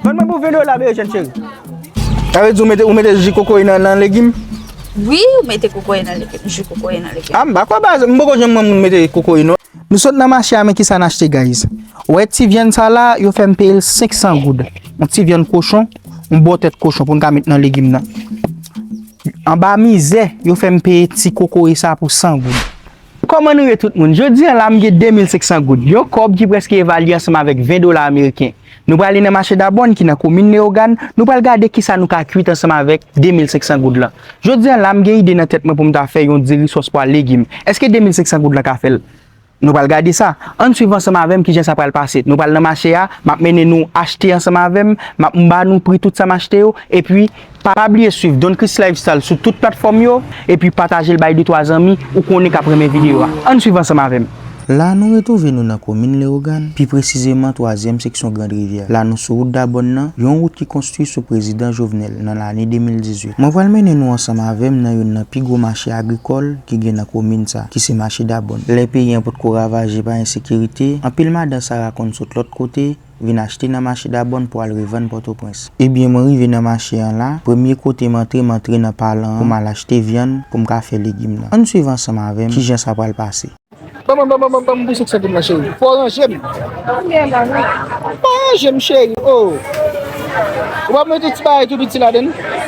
Ban mwen pou video la beye chen cheri. Sa vle di ou mete ji kokoye nan legim? Wi, ou mete kokoye nan legim, ji kokoye nan legim. A m bako ba, m boko jen mwen moun mete kokoye non. Nou sot nan mache a men ki sa n achte guys. Ou wè ti vyann sa la, yo fè m peye l 500 goud. Yon ti vyann kochon, yon bon tèt kochon pou n ka met nan legim nan. Anba mizè, yo fè m peye ti kokoye sa pou 100 goud. Kòman nou ye tout moun? Jodi an la, m gen 2500 goud, yon kòb ki prèske evalye ansanm avèk 20 dola ameriken. Nou prale nan mache Dabòn ki nan komin Leyogàn, nou pral gade kisa nou ka kuit ansanm avèk 2500 goud lan. Jodi an la, m gen ide nan tèt mwen pou m ta fè yon diri sòs pwa legim. Èske 2500 goud lan ka fè l? Nou pral gade sa. Ann swiv ansanm avè m kijan sa pral pase. Nou pral nan mache a, m ap mennen nou achte ansanm avè m, m ap m ba nou pri tout sa m achte yo, epi pa bliye swiv Don Chris Lifestyle sou tout platfòm yo, epi pataje l bay de twa zanmi ou konnen k ap renmen videyo a. Ann swiv ansanm avè m. La nou retwouve nou nan komin Lewogàn, pi presizeman twazyèm seksyon Grand Rivyè. La nou sou wout Dabòn nan, yon wout ki konstwi sou prezidan Jovenel nan lane 2018. Mwen pral mennen nou ansanm avè m nan youn nan pi gwo mache agrikòl ki gen nan komin sa, ki se mache Dabòn. Lè peyi an potko ravaje pa ensekirite, anpil madan sara konn sot lòt kote, vin achte nan mache Dabòn pou al revann Pòtoprens. Ebyen mwen rive nan mache an la, premye kote m antre m antre nan palan an pou m al achte vyann pou m ka fè legim nan. Ann swiv ansanm avè m kijan sa pral pase. Banm banm banm bouch souk santi m nan cheri. Fò w ranje m. Konbyen la menm? Banm ranje m cheri oo. Ou pa mete ti bagay tou piti ladann?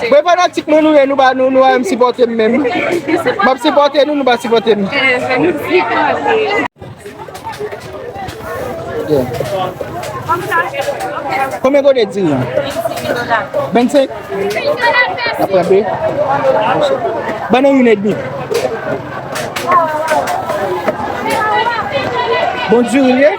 Mwen fanatik mwen nou ye nou pa nou an sipote m menm Map sipote nou nou pa sipote m Konbyen kote diri an? 25? Aprende? Banan yon edmi Bon du li ye?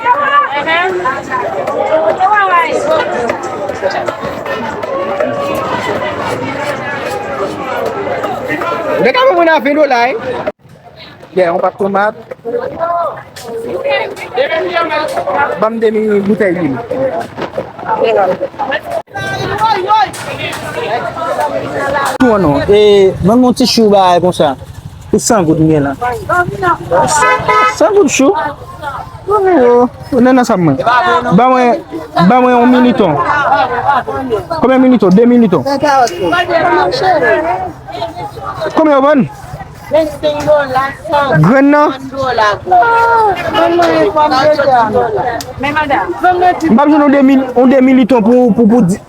Dek a mwen a 20 dola e. Dè yon pak tomat. Banm demi boutèy li. Tou an non. E banm yon ti chou ba a konsa. Pou 100 goud mwen la. 100 goud chou. Ou nan nan sa mwen. Ba mwen, ba mwen yon militon. Kome militon? 2 militon. Kome yon bon? Gren nan? Mwen pa joun yon 2 militon pou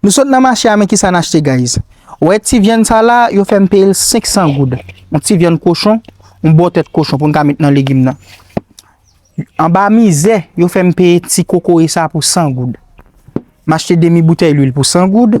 Nou sot nan mache a men kisa n achte guys Ou wè ti vyann sa la yo fè m peye l 500 goud Yon ti vyann kochon Yon bon tèt kochon pou n ka met nan legim nan Anba mizè yo fè m peye ti kokoye sa pou 100 goud M achte demi boutèy lwil pou 100 goud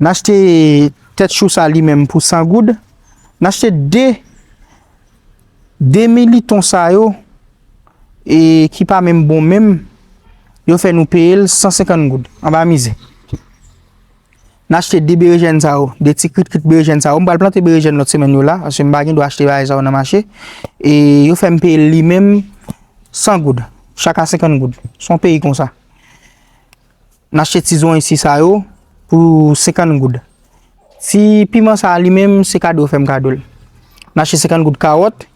N achte tèt chou sa li menm pou 100 goud. N achte 2 demi liton sa yo e ki pa menm bon menm. Yo fè nou peye l 150 goud. An ba mize. N achte 2 berejèn sa yo. 2 ti krit krit berejèn sa yo. M pral plante berejèn lòt semèn yo la. Ase m pa gen dwa achte bagay sa yo nan mache. E yo fè m peye l li menm 100 goud. Chak a 50 goud. Son peyi konsa. N achte ti zwan isi sa yo pou 50 goud. Ti piman sa li menm se kado yo fè m kado l. N achte 50 goud kawòt.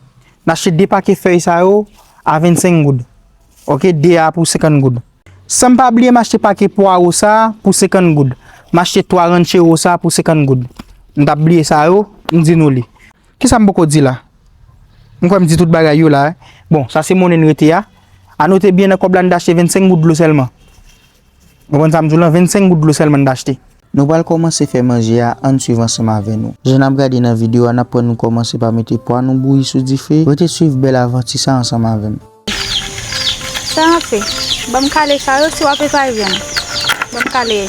N achte 2 pake fèy sa yo a 25 goud. Ok, 2 a pou 50 goud. San m pa bliye m achte pake pwaro sa pou 50 goud. M achte 3 ranchero sa pou 50 goud. M t ap bliye sa yo, m di nou li. Kisa m poko di la? M kwè m di tout bagay yo la. Bon, sa se monnen n rete a. A note byen nan kòb la n t achte 25 goud dlo sèlman. Ou konprann sa m di w lan? 25 goud dlo sèlman n t achte. Nou pral kòmanse fè manje a, ann swiv ansanm avè nou. Jan n ap gade nan videyo a, n aprann nou kòmanse pa mete pwa nou bouyi sou dife. Rete swiv bèl avanti sa ansanm avè m. Sa an fe. Banm kale sa yo si wap e pa e vyann. Banm kale e.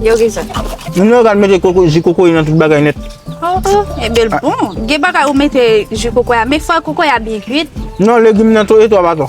Yo gen sa. Mwen nou gade mete koko, ji koko yon tout bagay net. Oh, oh, e bel ah. bon. Gen bagay ou mete ji koko ya, men fwa koko ya byen kuit. Non, legim nan to e to abato.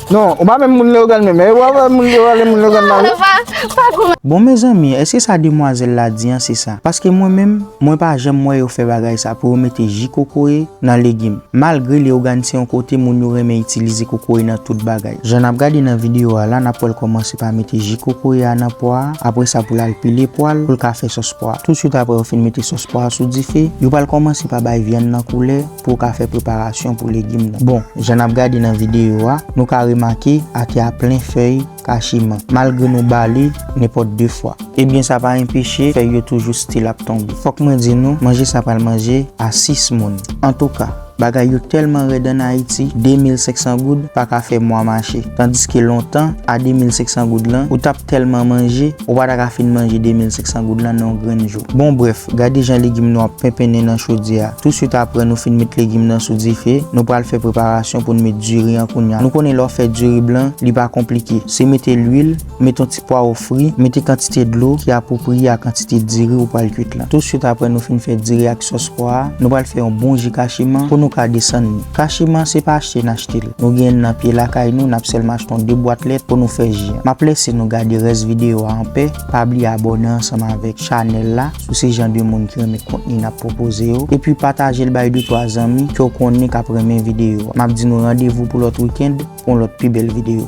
Non, ou pa menm moun Leogane menm, e wap wè moun yo rale moun Leogane la wi. Bon mezanmi eske sa demwazel la di an se sa paske mwen menm mwen pa janm wè yo fè bagay sa pou yo mete ji kokoye nan legim malgre Leogane se yon kote moun yo renmen itilize kokoye nan tout bagay jan nap gade nan video a la nap wèl kòmanse pa mete ji kokoye a nan pwa a aprè sa poul al pile pwal poul ka fè sòs pwa a tout swit aprè yo fin mete sòs pwa a sou dife yo pral kòmanse pa bay vyann nan koulè Pou w ka fè preparasyon pou legim nan. Bon, jan n ap gade nan videyo a, nou ka remake ate a plen fèy kachiman, malgre nou bale nenpòt 2 fwa. Ebyen sa pa enpeche fèy yo toujou still ap tonbe. Fòk mwen di nou, manje sa pral manje a 6 moun. Antouka, bagay yo tèlman rèd an Ayiti, 2500 goud pa ka fè mwa mache. Tandiske lontan, a 2500 goud lan, ou t ap. Tèlman manje, ou pa ta ka fin manje 2500 goud lan nan yon grenn jou. Bon brèf, gade jan legim nou ap penpennen nan chodyè a. Touswit aprè nou fin met legim nan sou dife, nou pral fè preparasyon pou n met diri an kounya. Nou konnen lè w fè diri blan, li pa konplike. Se mete lwil, mete yon ti pwawo fri, mete kantite dlo ki apwopriye a kantite diri ou pral kwit lan. Touswit aprè nou fin fè diri ak sòs pwa a, nou pral fè yon bon ji kachiman pou nou ka desann li. Kachiman se pa achte n achte l. Nou gen nan pye lakay nou nap selman achte yon 2 bwat lèt pou nou fè ji an. Map lèse nou gade rès video a an pè, pa bliye abòne ansanm avèk chanèl la si w se jan de moun ki renmen kontni nap pwopoze yo, epi pataje l bay de twa zanmi ke w konnen kap renmen video a. Map di nou randevou pou lòt weekend pou yon lòt pi bèl video.